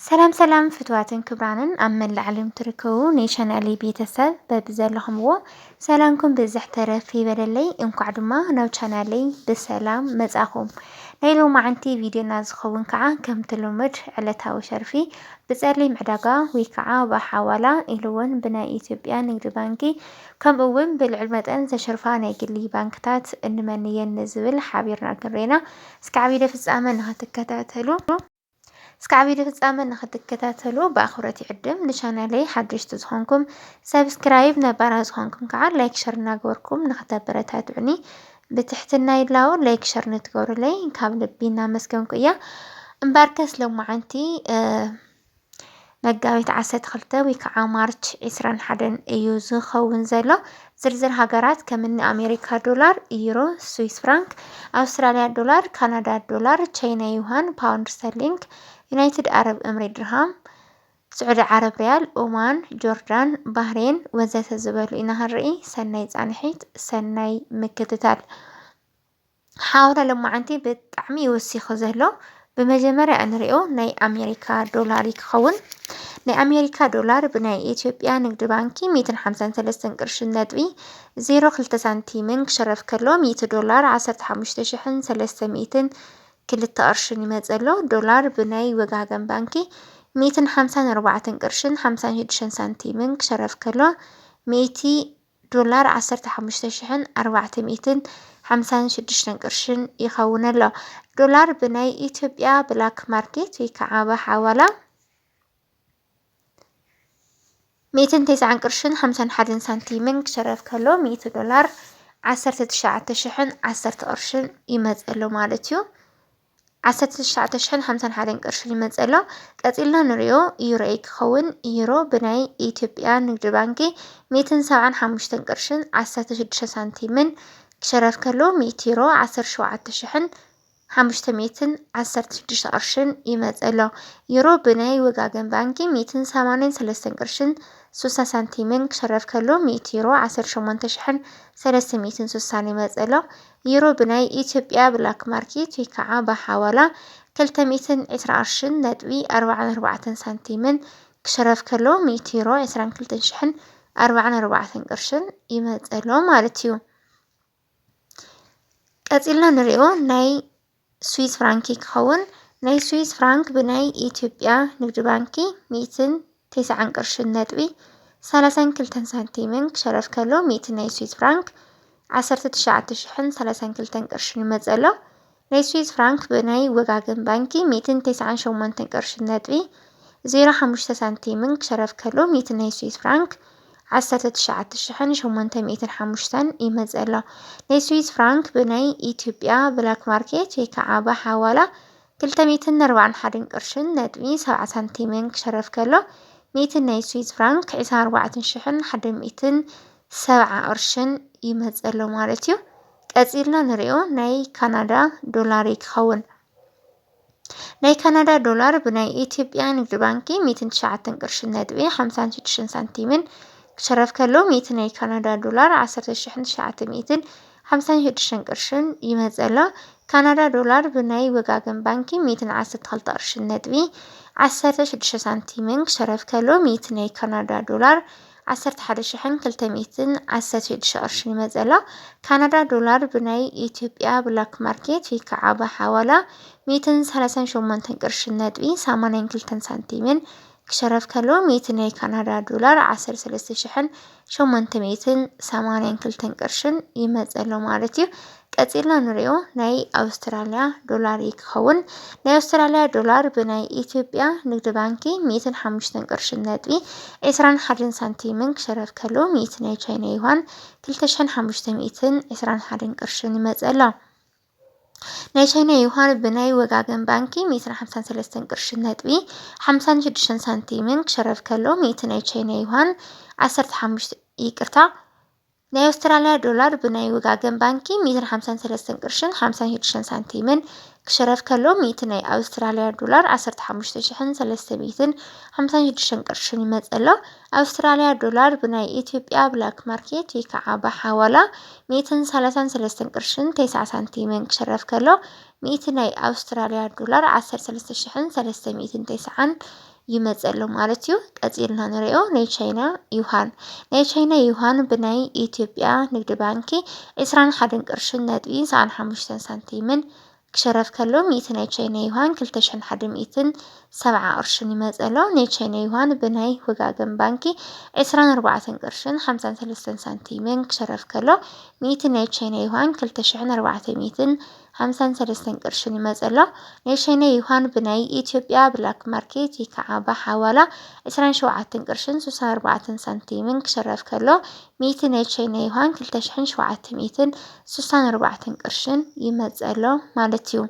ሰላም ሰላም ፍትዋትን ክብራንን ኣብ መላእ ዓለም ትርከቡ ናይ ቻናሊ ቤተሰብ በብዘለኹምዎ ሰላምኩም ብዝሕ ተረፍ ይበለለይ። እንኳዕ ድማ ናብ ቻናለይ ብሰላም መጻኹም። ናይ ሎማዓንቲ ቪድዮና ዝኸውን ከዓ ከምቲ ልሙድ ዕለታዊ ሸርፊ ብጸሊም ዕዳጋ ወይ ከዓ ብሓዋላ ኢሉ እውን ብናይ ኢትዮጵያ ንግዲ ባንኪ ከምኡ እውን ብልዑል መጠን ዘሸርፋ ናይ ግሊ ባንክታት እንመንየን ንዝብል ሓቢርና ክንሬና እስካዕ ቪድዮ ፍጻመ ንክትከታተሉ እስካዕ ቪድዮ ፍጻመ ንክትከታተሉ ብኣኽብሮት ይዕድም። ንቻናለይ ሓደሽቲ ዝኾንኩም ሰብስክራይብ፣ ነባራ ዝኾንኩም ከዓ ላይክ ሸር እናገበርኩም ንክተበረታትዑኒ ብትሕትና ይላው። ላይክ ሸር ንትገብሩለይ ካብ ልቢ እናመስገንኩ እያ። እምበኣርከስ ሎማዓንቲ መጋቢት ዓሰርተ ክልተ ወይ ከዓ ማርች ዕስራን ሓደን እዩ ዝኸውን ዘሎ። ዝርዝር ሃገራት ከምኒ ኣሜሪካ ዶላር፣ ዩሮ፣ ስዊስ ፍራንክ፣ ኣውስትራሊያ ዶላር፣ ካናዳ ዶላር፣ ቻይና ዩሃን፣ ፓውንድ ስተርሊንግ፣ ዩናይትድ ኣረብ እምሬት ድርሃም፣ ስዑዲ ዓረብ ሪያል፣ ኦማን፣ ጆርዳን፣ ባህሬን ወዘተ ዝበሉ ኢና ክንርኢ። ሰናይ ፃንሒት፣ ሰናይ ምክትታል። ሓውና ለማዓንቲ ብጣዕሚ እዩ ወሲኹ ዘሎ ብመጀመርያ እንሪኦ ናይ ኣሜሪካ ዶላር እዩ ክኸውን ናይ ኣሜሪካ ዶላር ብናይ ኢትዮጵያ ንግዲ ባንኪ ሚእትን ሓምሳን ሰለስተን ቅርሺ ነጥቢ ዜሮ ክልተ ሳንቲምን ክሽረፍ ከሎ ሚእቲ ዶላር ዓሰርተ ሓሙሽተ ሽሕን ሰለስተ ሚእትን ክልተ ቅርሽን ይመፅእ ኣሎ ዶላር ብናይ ወጋገን ባንኪ ሚእትን ሓምሳን ኣርባዕተን ቅርሽን ሓምሳን ሽዱሽተን ሳንቲምን ክሽረፍ ከሎ ሚእቲ ዶላር ዓሰርተ ሓሙሽተ ሽሕን ኣርባዕተ ሚእትን ሓምሳን ሽዱሽተን ቅርሽን ይኸውን ኣሎ። ዶላር ብናይ ኢትዮጵያ ብላክ ማርኬት ወይ ከዓ ብሓዋላ ሚእትን ተስዓን ቅርሽን ሓምሳን ሓደን ሳንቲምን ክሸረፍ ከሎ ሚእቲ ዶላር ዓሰርተ ትሽዓተ ሽሕን ዓሰርተ ቅርሽን ይመፅ ኣሎ ማለት እዩ። ዓሰርተ ትሽዓተ ሽሕን ሓምሳን ሓደን ቅርሺ ይመጽእ ኣሎ። ቀጺልና ንሪኦ ዩሮ'ዩ ክኸውን። ዩሮ ብናይ ኢትዮጵያ ንግዲ ባንኪ ሚእትን ሰብዓን ሓሙሽተን ቅርሽን ዓሰርተ ሽዱሽተ ሳንቲምን ክሽረፍ ከሎ ሚእቲ ዩሮ ዓሰርተ ሸውዓተ ሽሕን ሓሙሽተ ሚእትን ዓሰርተ ሽዱሽተ ቅርሽን ይመጽእ ኣሎ። ዩሮ ብናይ ወጋገን ባንኪ ሚእትን ሰማንያን ሰለስተን ቅርሽን ሱሳ ሳንቲምን ክሽረፍ ከሎ ሚእቲ ዩሮ ዓሰርተ ሸሞንተ ሽሕን ሰለስተ ሚእትን ሱሳን ይመጽእ ኣሎ። ዩሮ ብናይ ኢትዮጵያ ብላክ ማርኬት ወይ ከዓ ብሓዋላ ክልተ ሚእትን ዕስራ ቅርሽን ነጥቢ ኣርባዓን ኣርባዕተን ሳንቲምን ክሽረፍ ከሎ ሚእቲ ዩሮ ዕስራን ክልተን ሽሕን ኣርባዓን ኣርባዕተን ቅርሽን ይመፀሎ ማለት እዩ። ቀፂልና ንሪኦ ናይ ስዊዝ ፍራንኪ ክኸውን ናይ ስዊዝ ፍራንክ ብናይ ኢትዮጵያ ንግድ ባንኪ ሚእትን ቴስዓን ቅርሽን ነጥቢ ሰላሳን ክልተን ሳንቲምን ክሸረፍ ከሎ ሚእቲ ናይ ስዊዝ ፍራንክ ዓሰርተ ትሽዓተ ሽሕን ሰላሳን ክልተን ቅርሽን ይመጽእ ኣሎ። ናይ ስዊዝ ፍራንክ ብናይ ወጋገን ባንኪ ሚእትን ቴስዓን ሸሞንተን ቅርሽን ነጥቢ ዜሮ ሓሙሽተ ሳንቲምን ክሸረፍ ከሎ ሚእቲ ናይ ስዊዝ ፍራንክ ዓሰርተ ትሽዓተ ሽሕን ሸሞንተ ሚእትን ሓሙሽተን ይመጽእ ኣሎ። ናይ ስዊዝ ፍራንክ ብናይ ኢትዮጵያ ብላክ ማርኬት ወይ ከዓ ብሓዋላ ክልተ ሚእትን ኣርባዓን ሓደን ቅርሽን ነጥቢ ሰብዓ ሳንቲምን ክሸረፍ ከሎ ሚእቲ ናይ ስዊዝ ፍራንክ ዕስራን ኣርባዕተን ሽሕን ሓደ ሚእትን ሰብዓ ቅርሽን ይመጽእ ኣሎ ማለት እዩ። ቀጺልና ንሪኦ ናይ ካናዳ ዶላር እዩ ክኸውን። ናይ ካናዳ ዶላር ብናይ ኢትዮጵያ ንግዲ ባንኪ ሚእትን ትሽዓተን ቅርሽን ነጥቢ ሓምሳን ሽዱሽተን ሳንቲምን ክሽረፍ ከሎ ሚእቲ ናይ ካናዳ ዶላር ዓሰርተ ሽሕን ትሽዓተ ሚእትን ሓምሳን ሽዱሽተን ቅርሽን ይመጽእ ኣሎ። ካናዳ ዶላር ብናይ ወጋገን ባንኪ ሚእትን ዓሰርተ ክልተ ቅርሽን ነጥቢ ዓሰርተ ሽዱሽተ ሳንቲምን ክሽረፍ ከሎ ሚእቲ ናይ ካናዳ ዶላር ዓሰርተ ሓደ ሽሕን ክልተ ሚእትን ዓሰርተ ሽዱሽተ ቅርሽን እዩ መጽእ ኣሎ። ካናዳ ዶላር ብናይ ኢትዮጵያ ብላክ ማርኬት ወይ ከዓ ብሓዋላ ሚእትን ሰላሳን ሸሞንተን ቅርሽን ነጥቢ ሰማንያን ክልተን ሳንቲምን ክሸረፍ ከሎ ሚእቲ ናይ ካናዳ ዶላር ዓሰርተ ሰለስተ ሽሕን ሸሞንተ ሚእትን ሰማንያን ክልተን ቅርሽን ይመጽእ ኣሎ ማለት እዩ። ቀጺልና ንሪኦ ናይ ኣውስትራልያ ዶላር እዩ ክኸውን ናይ ኣውስትራልያ ዶላር ብናይ ኢትዮጵያ ንግዲ ባንኪ ሚእትን ሓሙሽተን ቅርሽን ነጥቢ ዕስራን ሓደን ሳንቲምን ክሸረፍ ከሎ ሚእቲ ናይ ቻይና ዩዋን ክልተ ሽሕን ሓሙሽተ ሚእትን ዕስራን ሓደን ቅርሽን ይመጽእ ኣሎ ናይ ቻይና ዩዋን ብናይ ወጋገን ባንኪ ሚእትን ሓምሳን ሰለስተን ቅርሽን ነጥቢ ሓምሳን ሽዱሽተን ሳንቲምን ክሸረፍ ከሎ ሚእቲ ናይ ቻይና ዩዋን ዓሰርተ ሓሙሽተ ይቅርታ ናይ ኣውስትራልያ ዶላር ብናይ ውጋገን ባንኪ ሚትን ሓምሳን ሰለስተን ቅርሽን ሓምሳን ሽዱሽተን ሳንቲምን ክሽረፍ ከሎ ሚእቲ ናይ ኣውስትራልያ ዶላር ዓሰርተ ሓሙሽተ ሽሕን ሰለስተ ሚትን ሓምሳን ሽዱሽተን ቅርሽን ይመጸሎ ኣውስትራልያ ዶላር ብናይ ኢትዮጵያ ብላክ ማርኬት ወይ ከዓ ብሓዋላ ሚትን ሰላሳን ሰለስተን ቅርሽን ተስዓ ሳንቲምን ክሽረፍ ከሎ ሚእቲ ናይ ኣውስትራልያ ዶላር ዓሰርተ ሰለስተ ሽሕን ሰለስተ ሚትን ተስዓን ይመጽእ ኣሎ ማለት እዩ። ቀጺልና ንሪኦ ናይ ቻይና ዩሃን ናይ ቻይና ዩሃን ብናይ ኢትዮጵያ ንግዲ ባንኪ ዕስራን ሓደን ቅርሽን ነጥቢ ሰዓን ሓሙሽተን ሳንቲምን ክሸረፍ ከሎ ሚእቲ ናይ ቻይና ዩሃን ክልተ ሽሕን ሓደ ሚእትን ሰብዓ ቅርሽን ይመጽእ ኣሎ። ናይ ቻይና ዩሃን ብናይ ወጋገን ባንኪ ዕስራን ኣርባዕተን ቅርሽን ሓምሳን ሰለስተን ሳንቲምን ክሸረፍ ከሎ ሚእቲ ናይ ቻይና ዩሃን ክልተ ሽሕን ኣርባዕተ ሚእትን ሃምሳን ሰለስተን ቅርሽን ይመጽእ ኣሎ። ናይ ሸይነ ዩሃን ብናይ ኢትዮጵያ ብላክ ማርኬት ይከዓ ብሓዋላ ዕስራን ሸውዓተን ቅርሽን ስሳን ኣርባዕተን ሳንቲምን ክሽረፍ ከሎ ሚእቲ ናይ ሸይነ ዩሃን ክልተ ሽሕን ሸውዓተ ሚእትን ስሳን ኣርባዕተን ቅርሽን ይመጽእ ኣሎ ማለት እዩ።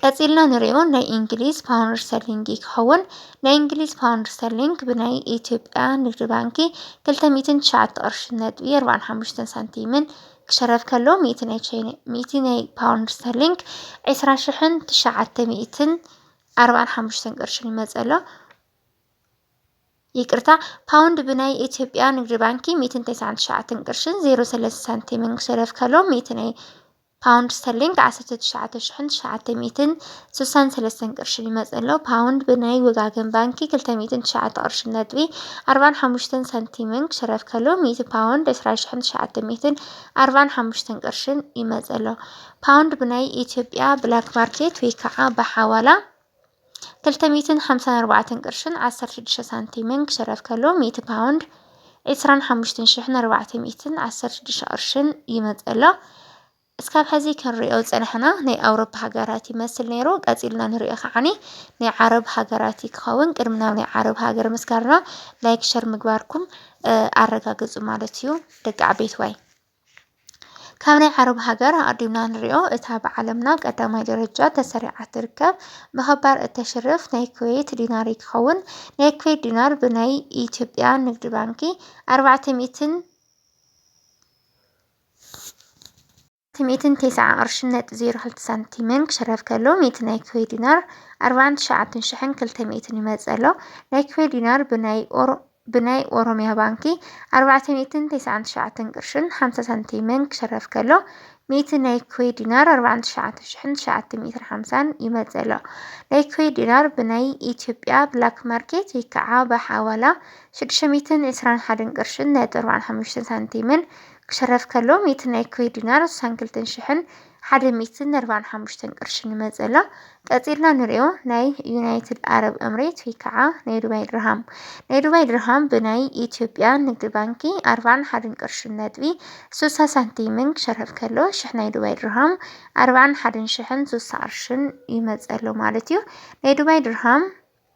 ቀጺልና ንሪኦ ናይ እንግሊዝ ፓውንድ ስተርሊንግ እዩ ክኸውን። ናይ እንግሊዝ ፓውንድ ስተርሊንግ ብናይ ኢትዮጵያ ንግዲ ባንኪ 209 ቅርሺ ነጥቢ 45 ሳንቲምን ክሸረፍ ከሎ ሚእቲ ናይ ቻይና ሚእቲ ናይ ፓውንድ ስተርሊንግ 20 ሽሕን 900ን 45 ቅርሽን ይመጽእ ኣሎ። ይቅርታ ፓውንድ ብናይ ኢትዮጵያ ንግዲ ባንኪ 199 ቅርሽን 03 ሳንቲምን ክሸረፍ ከሎ ሚእቲ ናይ ፓውንድ ስተርሊንግ ዓሰርተ ትሽዓተ ሽሕን ትሽዓተ ሚእትን ስሳን ሰለስተን ቅርሽን ይመጽእ ኣሎ። ፓውንድ ብናይ ወጋገን ባንኪ ክልተ ሚእትን ትሽዓተ ቅርሽን ነጥቢ ኣርባን ሓሙሽተን ሳንቲምን ክሽረፍ ከሎ፣ ሚእቲ ፓውንድ ዕስራ ሽሕን ትሽዓተ ሚእትን ኣርባን ሓሙሽተን ቅርሽን ይመጽእ ኣሎ። ፓውንድ ብናይ ኢትዮጵያ ብላክ ማርኬት ወይ ከኣ ብሓዋላ፣ ክልተ ሚእትን ሓምሳን ኣርባዕተን ቅርሽን ዓሰርተ ሽዱሽተ ሳንቲምን ክሽረፍ ከሎ ሚእቲ ፓውንድ ዕስራን ሓሙሽትን ሽሕን ኣርባዕተ ሚእትን ዓሰርተ ሽዱሽተ ቅርሽን ይመጽእ ኣሎ። እስካብ ሕዚ ክንሪኦ ዝጸናሕና ናይ ኣውሮፓ ሃገራት ይመስል ነይሩ ቀጺልና ንሪኦ ከዓኒ ናይ ዓረብ ሃገራት ክኸውን ቅድሚ ናብ ናይ ዓረብ ሃገር ምስጋርና ላይክ ሸር ምግባርኩም ኣረጋግጹ ማለት እዩ ደቂ ዓበይትዋይ ካብ ናይ ዓረብ ሃገር ኣቐዲምና ንሪኦ እታ ብዓለምና ቀዳማይ ደረጃ ተሰሪዓ ትርከብ ብኸባር እተሽርፍ ናይ ኩዌት ዲናር ይትኸውን። ናይ ኩዌት ዲናር ብናይ ኢትዮጵያ ንግድ ባንኪ ኣርባዕተ ሚእትን ሚእትን ቴስዓ ቅርሽን ነጥቢ ዜሮ ክልተ ሳንቲምን ክሽረፍ ከሎ ሚእቲ ናይ ኩዌ ዲናር ኣርባዓን ትሽዓተን ሽሕን ክልተ ሚእትን ይመጽእ ኣሎ። ናይ ኩዌ ዲናር ብናይ ኦሮ ብናይ ኦሮሚያ ባንኪ ኣርባዕተ ሚእትን ተስዓን ትሽዓተን ቅርሽን ሓምሳ ሳንቲምን ክሽረፍ ከሎ፣ ሚእቲ ናይ ኩዌት ዲናር ኣርባዓን ትሽዓተ ሽሕን ትሽዓተ ሚእትን ሓምሳን ይመጽእ ኣሎ። ናይ ኩዌት ዲናር ብናይ ኢትዮጵያ ብላክ ማርኬት ወይ ከዓ ብሓዋላ ሽዱሽተ ሚእትን ዕስራን ሓደን ቅርሽን ነጥቢ ኣርባዓን ሓሙሽተን ሳንቲምን ክሽረፍ ከሎ፣ ሚእቲ ናይ ኩዌት ዲናር ስሳን ክልተን ሽሕን ሓደ ሚእትን ነርባን ሓሙሽተን ቅርሺ ንመጸላ ቀጺልና ንሪኦ ናይ ዩናይትድ ኣረብ እምሬት ወይ ከዓ ናይ ዱባይ ድርሃም ናይ ዱባይ ድርሃም ብናይ ኢትዮጵያ ንግድ ባንኪ ኣርባን ሓደን ቅርሽን ነጥቢ ሱሳ ሳንቲምን ክሸርፍ ከሎ ሽሕ ናይ ዱባይ ድርሃም ኣርባን ሓደን ሽሕን ሱሳ ቅርሽን ይመጸሎ ማለት እዩ ናይ ዱባይ ድርሃም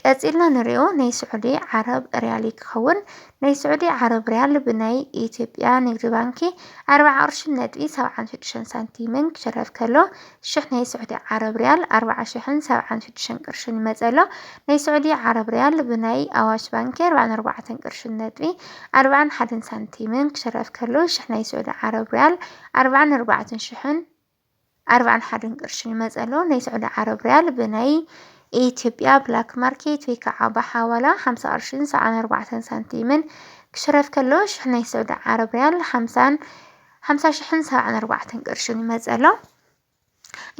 ቀጺልና ንሪኦ ናይ ስዑዲ ዓረብ ሪያል ክኸውን ናይ ስዑዲ ዓረብ ሪያል ብናይ ኢትዮጵያ ንግዲ ባንኪ ኣርብዓ ቅርሽን ነጥቢ ሰብዓን ሽዱሽተን ሳንቲምን ክሽረፍ ከሎ ሽሕ ናይ ስዑዲ ዓረብ ሪያል ኣርብዓ ሽሕን ሰብዓን ሽዱሽተን ቅርሽን ይመጸ ኣሎ ናይ ስዑዲ ዓረብ ሪያል ብናይ ኣዋሽ ባንኪ ኣርብዓን ኣርባዕተን ቅርሽን ነጥቢ ኣርብዓን ሓደን ሳንቲምን ክሽረፍ ከሎ ሽሕ ናይ ስዑዲ ዓረብ ሪያል ኣርብዓን ኣርባዕተን ሽሕን ኣርባዕን ሓደን ቅርሽን ይመጽእ ኣሎ። ናይ ስዑዲ ዓረብ ሪያል ብናይ ኢትዮጵያ ብላክ ማርኬት ወይ ከዓ ብሓዋላ ሓምሳ ቅርሽን ሰብዓን ኣርባዕተን ሳንቲምን ክሽረፍ ከሎ ሽሕ ናይ ስዑዲ ዓረብ ሪያል ሓምሳን ሓምሳ ሽሕን ሰብዓን ኣርባዕተን ቅርሽን ይመጽእ ኣሎ።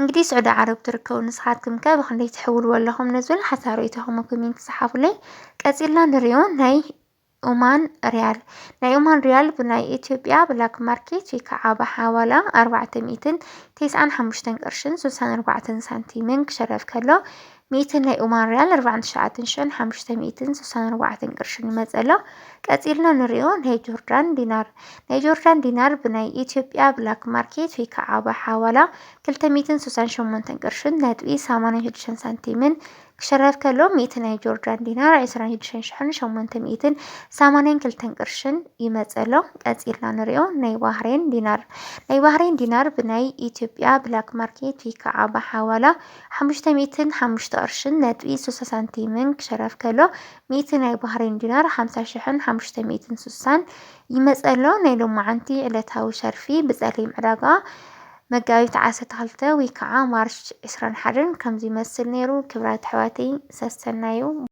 እንግዲህ ስዑዲ ዓረብ ትርከቡ ንስኻትኩም ከ ብክንደይ ትሕውልዎ ኣለኹም ንዝብል ሓሳብ ርእይቶኹም ኮሜንት ጽሓፉለይ። ቀጺልና ንሪኦ ናይ ኦማን ሪያል፣ ናይ ኦማን ሪያል ብናይ ኢትዮጵያ ብላክ ማርኬት ወይ ከዓ ብሓዋላ ኣርባዕተ ሚእትን ቴስዓን ሓሙሽተን ቅርሽን ስልሳን ኣርባዕተን ሳንቲምን ክሸረፍ ከሎ ሚእቲ ናይ ኦማን ሪያል ኣርባዕን ትሽዓትን ሽሕን ሓሙሽተ ሚእትን ስልሳን ኣርባዕተን ቅርሽን ይመፅእ ኣሎ። ቀፂልና ንሪኦ ናይ ጆርዳን ዲናር ናይ ጆርዳን ዲናር ብናይ ኢትዮጵያ ብላክ ማርኬት ወይ ከዓ ብሓዋላ ክልተ ሚእትን ስልሳን ሸሞንተን ቅርሽን ነጥቢ ሰማንያን ሽዱሽተን ሳንቲምን ክሽረፍ ከሎ ሚእቲ ናይ ጆርዳን ዲናር፣ ዕስራን ሽዱሽተን ሽሕን ሸሞንተ ሚእትን ሰማንያን ክልተን ቅርሽን፣ ይመጽእ ኣሎ። ቀጺልና ንሪኦ ናይ ባህሬን ዲናር። ናይ ባህሬን ዲናር ብናይ ኢትዮጵያ ብላክ ማርኬት ወይ ከዓ ብሓዋላ ሓሙሽተ ሚእትን ሓሙሽተ ቅርሽን ነጥቢ ሱሳ ሳንቲምን ክሽረፍ ከሎ ሚእቲ ናይ ባህሬን ዲናር ሓምሳ ሽሕን ሓሙሽተ ሚእትን ሱሳን ይመጽእ ኣሎ። ናይ ሎማዓንቲ ዕለታዊ ሸርፊ ብጸሊም ዕዳጋ መጋቢት ዓሰርተ ክልተ ወይ ከዓ ማርች ዕስራን ሓደን ከምዚ ይመስል ነይሩ ክብራት ኣሕዋተይ ሰሰናዩ።